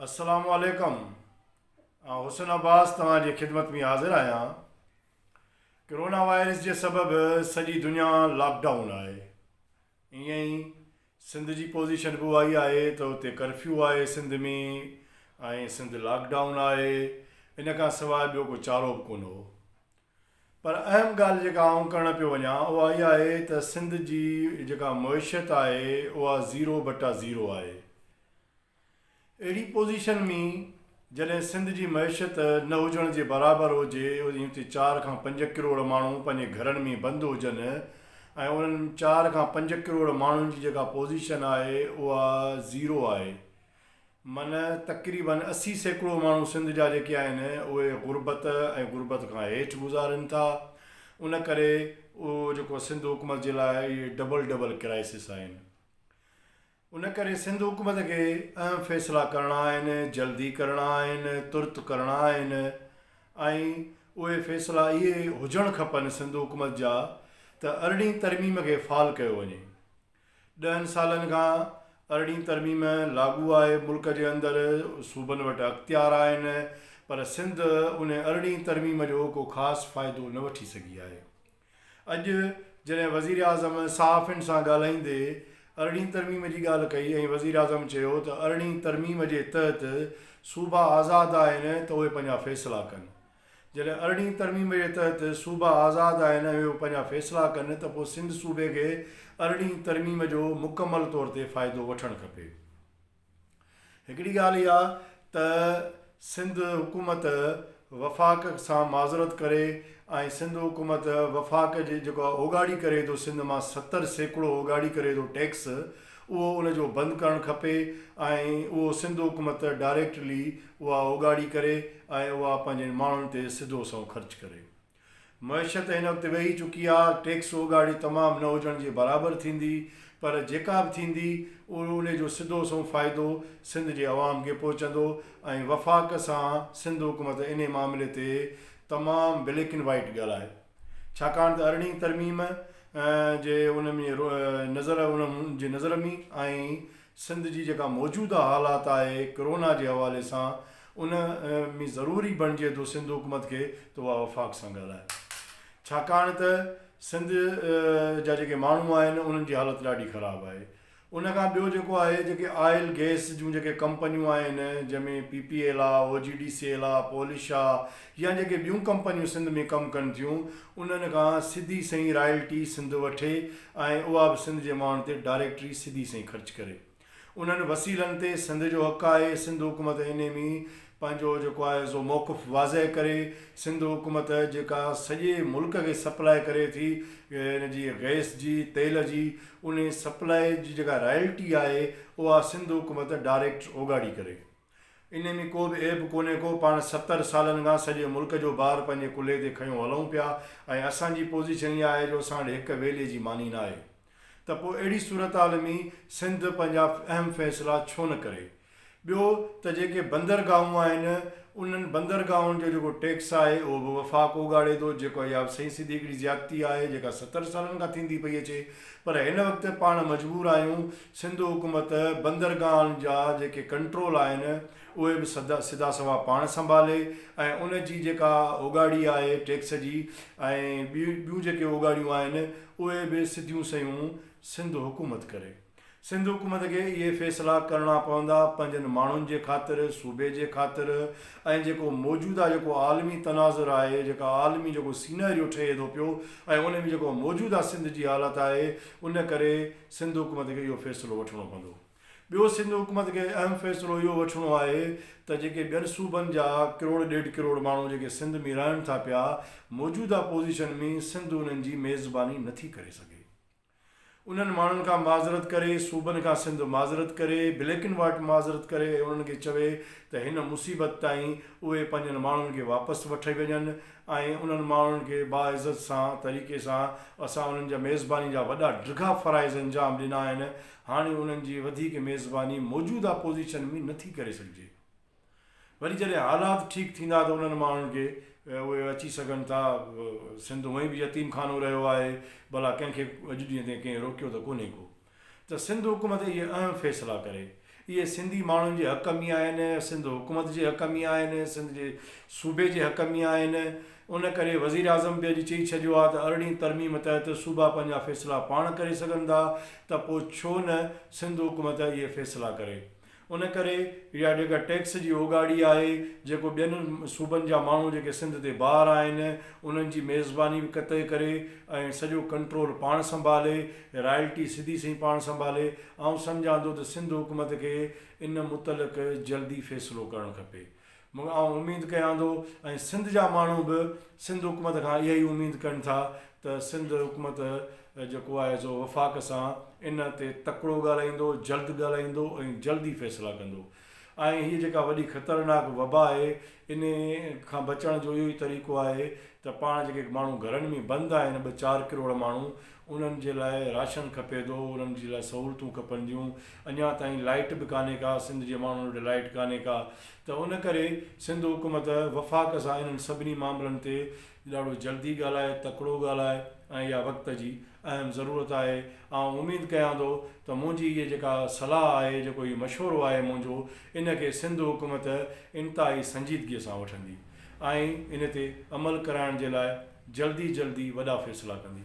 السلام عليڪم آئون حسن عباس توهان جي خدمت ۾ حاضر آهيان ڪرونا وائرس جي سبب سڄي دنيا لاڪ ڊائون آهي ائين ئي سنڌ جي پوزيشن به اها ئي آهي ته اتي ڪرفيو آهي سنڌ ۾ ۽ سنڌ لاڪ ڊائون آهي ان کان سواء ٻيو ڪو چارو به ڪونه هو پر اهم ڳالهه جيڪا آئون ڪرڻ پيو وڃان اها اها آهي ته سنڌ جي جيڪا معيشت آهي اها زيرو بٽا زيرو آهي. اهڙي پوزيشن ۾ جڏهن سنڌ جي معيشت نه هجڻ جي برابر هجي ۽ اتي چار کان پنج ڪروڙ ماڻهو پنهنجي گهرن ۾ بند هجن ۽ انهن چار کان پنج ڪروڙ ماڻهن جي جيڪا پوزيشن آهي اها زيرو آهي من تقريبن اسي سيڪڙو ماڻهو سنڌ جا جيڪي آهن اهي غربت ۽ غربت کان هيٺ گذارين ٿا ان ڪري اهو جيڪو سنڌ حڪومت جي لاء اهي ڊبل ڊبل ڪرائسس آهن ان ڪري سنڌ حڪومت کي اهم فيصلا ڪرڻا آهن جلدي ڪرڻا آهن ترت ڪرڻا آهن ۽ اهي فيصلا اهي هجڻ کپن سنڌ حڪومت جا ته ارڙهين ترميم کي فعال ڪيو وڃي ڏهن سالن کان ارڙهين ترميم لاڳو آهي، ملڪ جي اندر صوبن وٽ اختيار آهن پر سنڌ ان ارڙهين ترميم جو ڪو خاص فائدو نه وٺي سگهي آهي. اڄ جڏهن وزيراعظم صحافين سان ڳالهائيندي ارڙهين ترميم جي ڳالهه ڪئي ۽ وزيراعظم چيو ته ارڙهين ترميم جي تحت صوبا آزاد آهن ته اهي پنهنجا فيصلا ڪن جڏهن ارڙهين ترميم جي تحت صوبا آزاد آهن ۽ اهي پنهنجا فيصلا ڪن ته پوء سنڌ صوبي کي ارڙهين ترميم جو مڪمل طور تي فائدو وٺڻ کپي. هڪڙي ڳالهه اها ته سنڌ حڪومت وفاق سان معذرت ڪري ۽ سنڌ حڪومت وفاق جي جيڪو اوڳاڙي ڪري ٿو سنڌ مان ستر سيڪڙو اوڳاڙي ڪري ٿو ٽيڪس اهو ان جو بند ڪرڻ کپي ۽ اهو سنڌ حڪومت ڊائريڪٽلي اها اوڳاڙي ڪري ۽ اها پنهنجي ماڻهن تي سڌو سنئون خرچ ڪري. معيشت هن وقت ويهي چڪي آ، ٽيڪس اوڳاڙي تمام نه هجڻ جي برابر ٿيندي پر جيڪا به ٿيندي ان جو سڌو سنئون فائدو سنڌ جي عوام کي پهچندو ۽ وفاق سان سنڌ حڪومت انهي معاملي تي تمام بليڪ اينڊ وائيٽ ڳالهائي ڇاڪاڻ ته ارڙهين ترميم جي ان ۾ نظر انهن جي نظر ۾ ۽ سنڌ جي جيڪا موجوده حالات آهي ڪرونا جي حوالي سان ان ۾ ضروري بڻجي ٿو سنڌ حڪومت کي ته اها وفاق سان ڳالهائي ڇاڪاڻ ته سنڌ جا جيڪي ماڻهو آهن انهن جي حالت ڏاڍي خراب آهي ان کان ٻيو جيڪو آهي جيڪي آئل گئس جون جيڪي ڪمپنيون آهن جنهن ۾ پي پي ايل آ، O G D C L آ، پولش آ يا جيڪي ٻيون ڪمپنيون سنڌ ۾ ڪم ڪن ٿيون انهن کان سڌي سئي رائلٽي سنڌ وٺي ۽ اها به سنڌ جي ماڻهن تي ڊائريڪٽري سڌي سئي خرچ ڪري انهن وسيلن تي سنڌ جو حق آهي سنڌ حڪومت انهي م پنهنجو جيڪو آهي سو موقف واضح ڪري، سنڌ حڪومت جيڪا سڄي ملڪ کي سپلاء ڪري ٿي ان جي گئس جي تيل جي انهي سپلاء جي جيڪا رائلٽي آهي اها سنڌ حڪومت ڊائريڪٽ اوڳاڙي ڪري انهي ۾ ڪو به عيب ڪونهي ڪو پاڻ ستر سالن کان سڄي ملڪ جو بار پنهنجي ڪلهي تي کنيو هلون پيا ۽ اسان جي پوزيشن اها آهي جو اسان وٽ هڪ ويلي جي ماني ناهي. ته پوء اهڙي صورتحال ۾ سنڌ پنهنجا اهم فيصلا ڇو نه ڪري؟ ٻيو ته جيڪي بندرگاهون آهن انهن بندرگاهن جو جيڪو ٽيڪس آهي اهو به وفاق اوڳاڙي ٿو جيڪو اها به سهي سڌي هڪڙي زيادتي آهي جيڪا ستر سالن کان ٿيندي پئي اچي پر هن وقت پاڻ مجبور آهيون سنڌ حڪومت بندرگاهن جا جيڪي ڪنٽرول آهن اهي به سڌا سوا پاڻ سنڀالي ۽ ان جي جيڪا اوڳاڙي آهي ٽيڪس جي ۽ ٻيون جيڪي اوڳاڙيون آهن اهي به سڌيون سيون سنڌ حڪومت ڪري. سنڌ حڪومت کي اهي فيصلا ڪرڻا پوندا پنهنجن ماڻهن جي خاطر، صوبي جي خاطر ۽ جيڪو موجوده جيڪو عالمي تناظر آهي، جيڪا عالمي جيڪو سيناريو ٺهي ٿو پيو ۽ ان ۾ جيڪو موجوده سنڌ جي حالت آهي ان ڪري سنڌ حڪومت کي اهو فيصلو وٺڻو پوندو. ٻيو سنڌ حڪومت کي اهم فيصلو اهو وٺڻو آهي ته جيڪي ٻين صوبن جا ڪروڙ ڏيڍ ڪروڙ ماڻهو جيڪي سنڌ ۾ رهن ٿا پيا موجوده پوزيشن ۾ سنڌ انهن جي ميزباني نٿي ڪري سگهي انهن ماڻهن کان معذرت ڪري صوبن کان سنڌ معذرت ڪري بليڪ اينڊ وائٽ معذرت ڪري ۽ انهن کي چوي ته هن مصيبت تائين اهي پنهنجن ماڻهن کي واپس وٺي وڃن ۽ انهن ماڻهن کي باعزت سان طريقي سان اسان انهن جا ميزباني جا وڏا ڊگها فرائض انجام ڏنا آهن هاڻي انهن جي وڌيڪ ميزباني موجوده اپوزيشن ۾ نٿي ڪري سگهجي. وري جڏهن حالات ٺيڪ ٿيندا ته انهن ماڻهن کي اهي اچي سگهن ٿا. سنڌ هونئن به يتيم خانو رهيو آهي، ڀلا ڪنهن کي اڄ ڏينهن تائين ڪنهن روڪيو ته ڪونهي ڪو. ته سنڌ حڪومت اهي اهم فيصلا ڪري. اهي سنڌي ماڻهن جي حق ۾ آهن، سنڌ حڪومت جي حق ۾ آهن، سنڌ جي صوبي جي حق ۾ آهن. ان ڪري وزيراعظم به اڄ چئي ڇڏيو آهي ته ارڙهين ترميم تحت صوبا پنهنجا فيصلا پاڻ ڪري سگهن ٿا ته پوء ڇو نه سنڌ حڪومت اهي فيصلا ڪري. ان ڪري اها ڊگهه ٽيڪس جي اوڳاڙي آهي جيڪو ٻين صوبن جا ماڻهو جيڪي سنڌ تي بار آهن انهن جي ميزباني به قطعي ڪري ۽ سڄو ڪنٽرول پاڻ سنڀالي، رائلٽي سڌي سئي پاڻ سنڀالي. آئون سمجهان ٿو ته سنڌ حڪومت کي ان متعلق جلدي فيصلو ڪرڻ کپي. مگر آئون اميد ڪيان ٿو ۽ سنڌ جا ماڻهو به سنڌ حڪومت کان اها ئي اميد ڪن ٿا ته سنڌ حڪومت جيڪو آهي سو وفاق سان ان تي تڪڙو ڳالهائيندو، جلد ڳالهائيندو ۽ جلد ئي فيصلا ڪندو ۽ هيء جيڪا وڏي خطرناڪ وبا آهي ان کان بچڻ جو اهو ئي طريقو آهي ته پاڻ جيڪي ماڻهو گهرن ۾ بند آهن ٻه چار ڪروڙ ماڻهو انهن جي لاء راشن کپي ٿو، انهن جي لاء سهولتون کپنديون، اڃا تائين لائيٽ به ڪانهي ڪا، سنڌ جي ماڻهن وٽ لائيٽ ڪانهي ڪا ته ان ڪري سنڌ حڪومت وفاق سان انهن سڀني معاملن تي ڏاڍو جلدي ڳالهائي، تڪڙو ڳالهائي ۽ اها وقت جي اهم ضرورت آهي. آئون اميد ڪيان ٿو ته منهنجي هيء جيڪا صلاح آهي، جيڪو هي مشورو آهي منهنجو، ان کي سنڌ حڪومت انتهائي سنجيدگيء سان وٺندي ۽ ان تي عمل ڪرائڻ جي لاء جلدي جلدي وڏا فيصلا ڪندي.